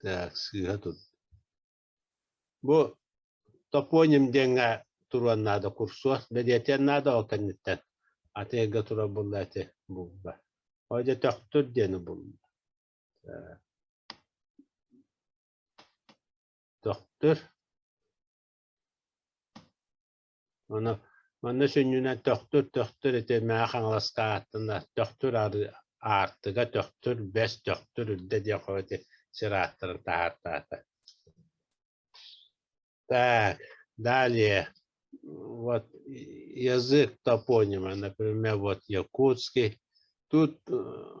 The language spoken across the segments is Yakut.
Так, сыыһа тут. Бу топоним диэҥҥэ туруон наада курсуос бэлиэтиэн наада ол кэнниттэн ate эйгэ турар булла ate булла ол дьэ төхтүр диэни булла төхтүр Ону манна сүнньүнэн төхтүр, төхтүр ити Мээ Хаҥаласка ааттанар. Төхтүр арыы Аартыга, Төхтүр Бэс, Төхтүр Үрдэ диэн хоро ити сир ааттарын таһаартаата. Так, далее вот язык топонима, например, вот якутский. Тут э,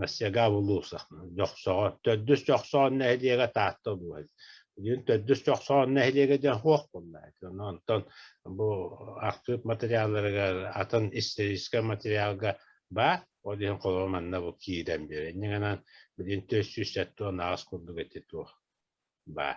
Массага булуса. Жохсоҕон. Төрдүс Жохсоҕон нэһилиэгэ Таатта булуһа. Бүгүн төрдүс Жохсоҕон нэһилиэгэ диэн хуох булла. Онтон бу актыып материалларыгар, атын историческай материалга бар. Ол иһин холо манна бу киирэн биэрэ. Иннигэнэн билин төрт сүүс сэтті он ағас курдук эти туох бар.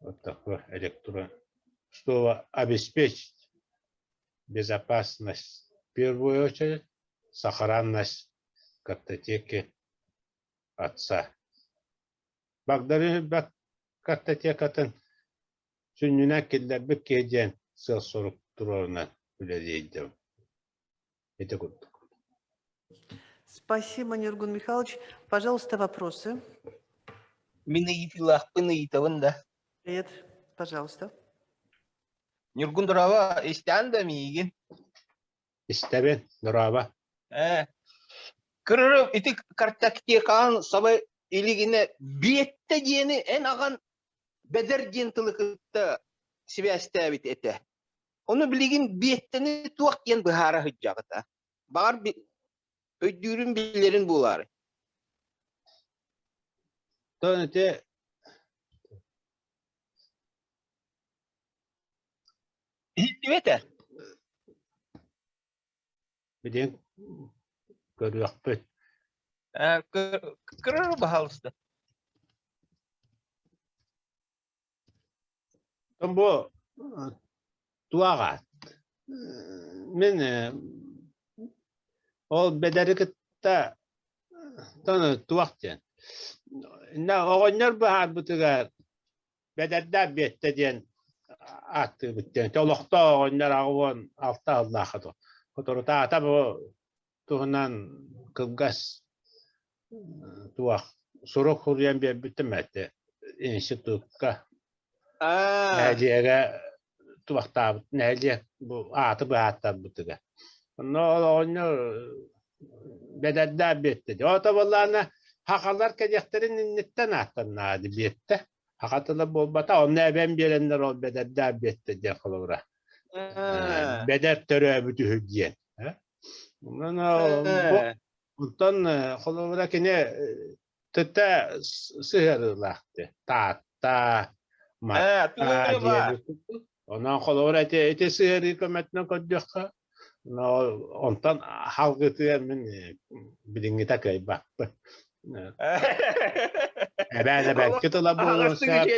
вот такое электро, слово «обеспечить» – безопасность в первую очередь, сохранность картотеки отца. Багдарыһырбат картотекатын сүнньүнэн киллэрбит киһи диэн сыал-сорук туруорунан үлэлиирдэм. Это курдук. Спасибо, Нюргун Михайлович. Пожалуйста, вопросы. Мин ыйытыылаахпын ыйытабын да. Привет, пожалуйста. Нюргун дурава, истән да миигин. Истэбин, дурава. Э. Кырырып ити картактекаан сабай илигине биетте диэни эн аган бэдэр диэн тылы кытта сибээстээбит этэ. Ону билигин Биэттэни туох диэн быһаара сылдьаҕыта? Баҕар, өйдүүрүн биллэрин булаар. Тон ити иһиттибэтэ? Билигин көрүөхпүт. Э, көрөр баһаалыста. Бу туаҕаат мин ол бэдэри кытта таны туах диэн инна оҕонньор быһаарбытыгар бэдэрдээх биэттэ диэн ааттыыбыт диэн олохтоох оҕонньор аҕа уон алта сыллаах хоту соторутаата бу туһунан кылгас туох сурук суруйан биэрбиттим эти институтка нэһилиэгэ туохтаабыт нэһилиэк бу ааты быһааттарбытыгар онно оҕонньор бэдэрдээх биэттэ ото боллаана хахалар кэлиэхтэрин инниттэн ааттаннаа биэттэ хаха тыла буолбата онно эбэм биэрэннэр ол бэдэрдээх биэттэ диэн холобура бэдэр төрөөбүт үһү диэн Мунан Оттон холобура кини тыта сыһарыылаахты Таатта Онон холобура ити сыһарыы көмөтүнэн көрдөххө онтон халгытыа мин билиҥҥитэ кыайбаппын Эбээн эбэҥки тыла буолуон сөп.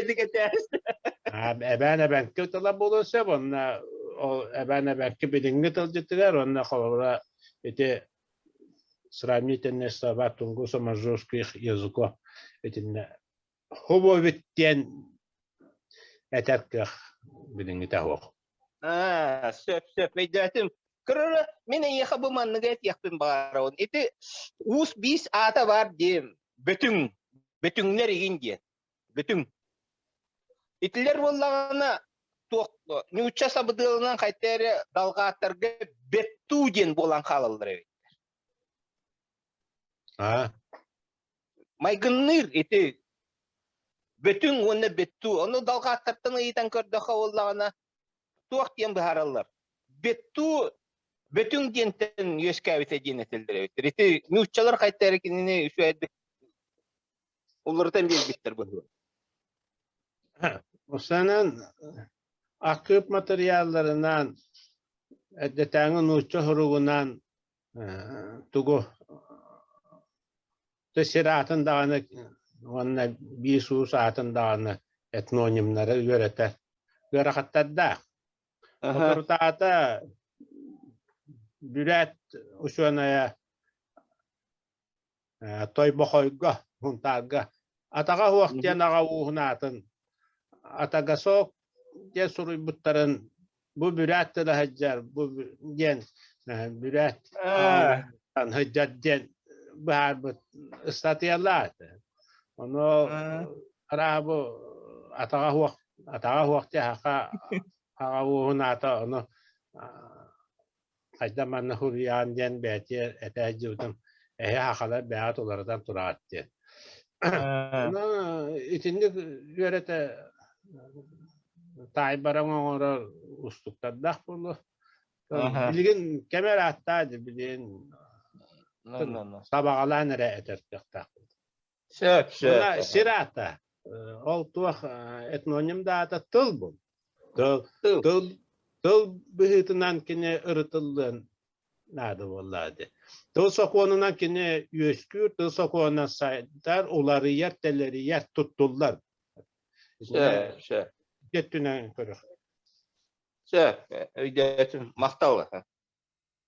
Эбээн эбэҥки тыла буолуон сөп уонна эбээн эбэҥки билиҥҥи тылдьытыгар уонна холобура ити сравнительное слова тунгусо-мажорских языков итиннэ Хубу эбит диэн этэр кыах бүгүнгүтэ суох. Аа, сөп, сөп, өйдөөтүм. Кырыра, мин эйиэхэ бу манныгы этиэхпин баҕарабын. Ити уус биис аата бар диим. Бүтүҥ. Бүтүҥнэр игин диэн. Бүтүҥ. Итилэр буоллаҕына туох ньуучча сабыдыалынан хайта эрэ далгааттарга беттуу диэн буолан хаалаллар эбит. Аа. майгынныыр ити бүтүн уонна бүттүү ону далгааттартан ыйытан көрдөххө буоллаҕына туох диэн быһаараллар бүттүү бүтүн диэнтэн үөскээбитэ диэн этэллэр эбиттэр ити нууччалар хайта эрэ кинини үсүөрдүк уларытан биэрбиттэр быһыылар Усанан акып материалларынан эддэтээҥи нуучча суругунан тугу то сир аатын даҕаны уонна биис уус аатын даҕаны этнонимнары үөрэтэ ыарахаттардаах соторутаата бүрээт ученая Тойбохойго, Унтаарга атаҕа уох диэн аҕа ууһун аатын Атагасок диэн суруйбуттарын бу бүрээт тыла сылдьар бу диэн бүрээт сыдьар диэн быһаарбыт ыстатыйалаах ону араабу атаҕа уох атаҕа уох диэн аха аҕа ууһун аата ону Хайдах манна суруйаан диэн бэйэтэ этэ сылдьыбытым эһэ сахалар бэйэҕит уларытан тураҕыт диэн. итинник үөрэтэ таайбараҥ оҥорор устуктардаах буолуо. Билигин кэм эрэ аттаа билигин табаҕалаан эрэ этэр кыахтаах. Все, все. Сирата. Ол туох этноним да ата тылбын. Тыл, тыл. Тыл, тыл быһыытынан кини ырытыллыан наада буоллаады. Тыл сокуонунан кини үөскүүр, тыл сокуонунан сайдар, уларыйар, тэлэрийэр, туттуллар. Все, все. Деттүнэн көрөх. Все, өйдөөтүн мақталла.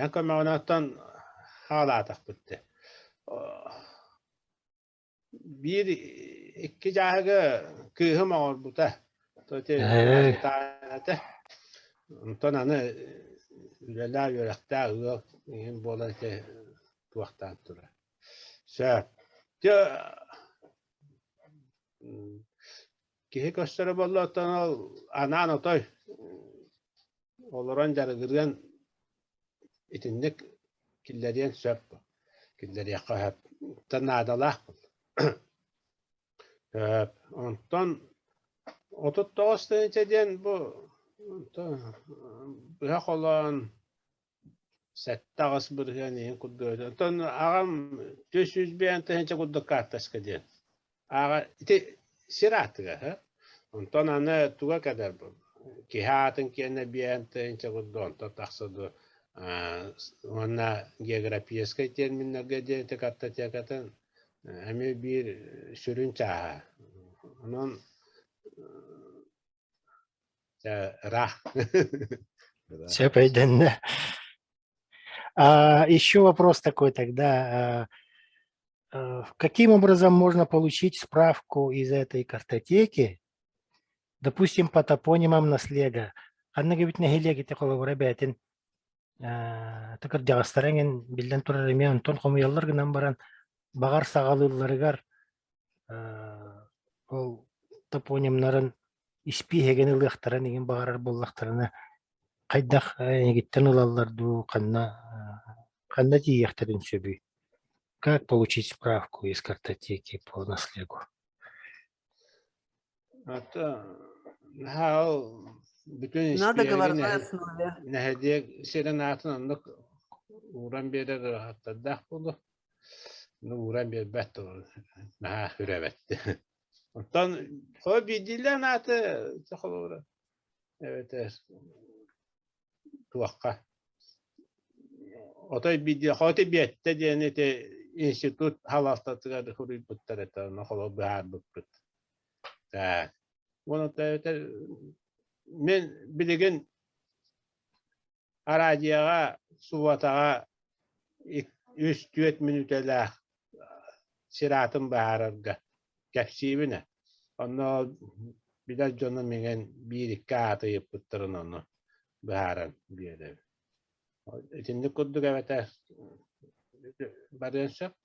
Эн көмөҕүнэн хаалаатахпыт дэ. Биир икки дьааһыга кыыһым оҥорбута. этэ. Онтон аны үлэлээх, үөрэхтээх ыал иһин буолан ити туохтаан турар. Сөп. Дьэ Киһи көстөрө буолла оттон ол анаан отой олорон дьарыгырыан итинник киллэриэн сөп. Киллэриэххэ сөп. Наадалаахпын. Сөп. Онтон отут тоҕус тыһыынча диэн бу быһа холоон Сэттэ аҕыс бырыһыан иһин курдук өтө. Оттон аҕам түөрт сүүс биээн тыһыынча курдук каартаска диэн. Ааҕа ити сир аатыгар, һэ? Онтон аны туга кадар киһи аатын киэнэ биээн тыһыынча курдук онтон тахса дуу уонна географическай терминнэргэ диэн ити картотекатын эмиэ биир сүрүн чааһа. Онон Ыраах. Все поединно. А, еще вопрос такой тогда. Каким образом можно получить справку из этой картотеки, допустим, по топонимам наслега? Анныгыбит нэһилиэгите холобура бээтин тыкырдьаҕастарыҥин биллэн турар эмиэ онтон хомуйаллар гынан баран баҕар саҕалыылларыгар ол топонимнарын испииһэгин ылыахтарын игин баҕарар буоллахтарына хайдах эйигиттэн ылаллар дуу ханна ханна тиийиэхтэрин сөбүй как получить справку из картотеки по наслегу Нэһэдиэк сирин аатын оннук ууран биэрэр ыраһаттардаах буолу. Ууран биэрбэт наһаа хүрэбэт. Оттон хо биирдиилээн ааты чохолуура эбэтэ туохха отой биирдии хоти биэтте диэн ити институт халалтатыгар хуруйбуттар это оно холо быһаарбыппыт Так. Волонтер мен билигин араадьыйаҕа субуотаҕа үс түөрт мүнүүтэлээх сираатын быһаарарга кэпсиибинэ онно билэр дьону миҥэн биир-икки аатыйыппыттарын ону быһааран биэрэр. Итинник курдук эбэтэр барыан сөп.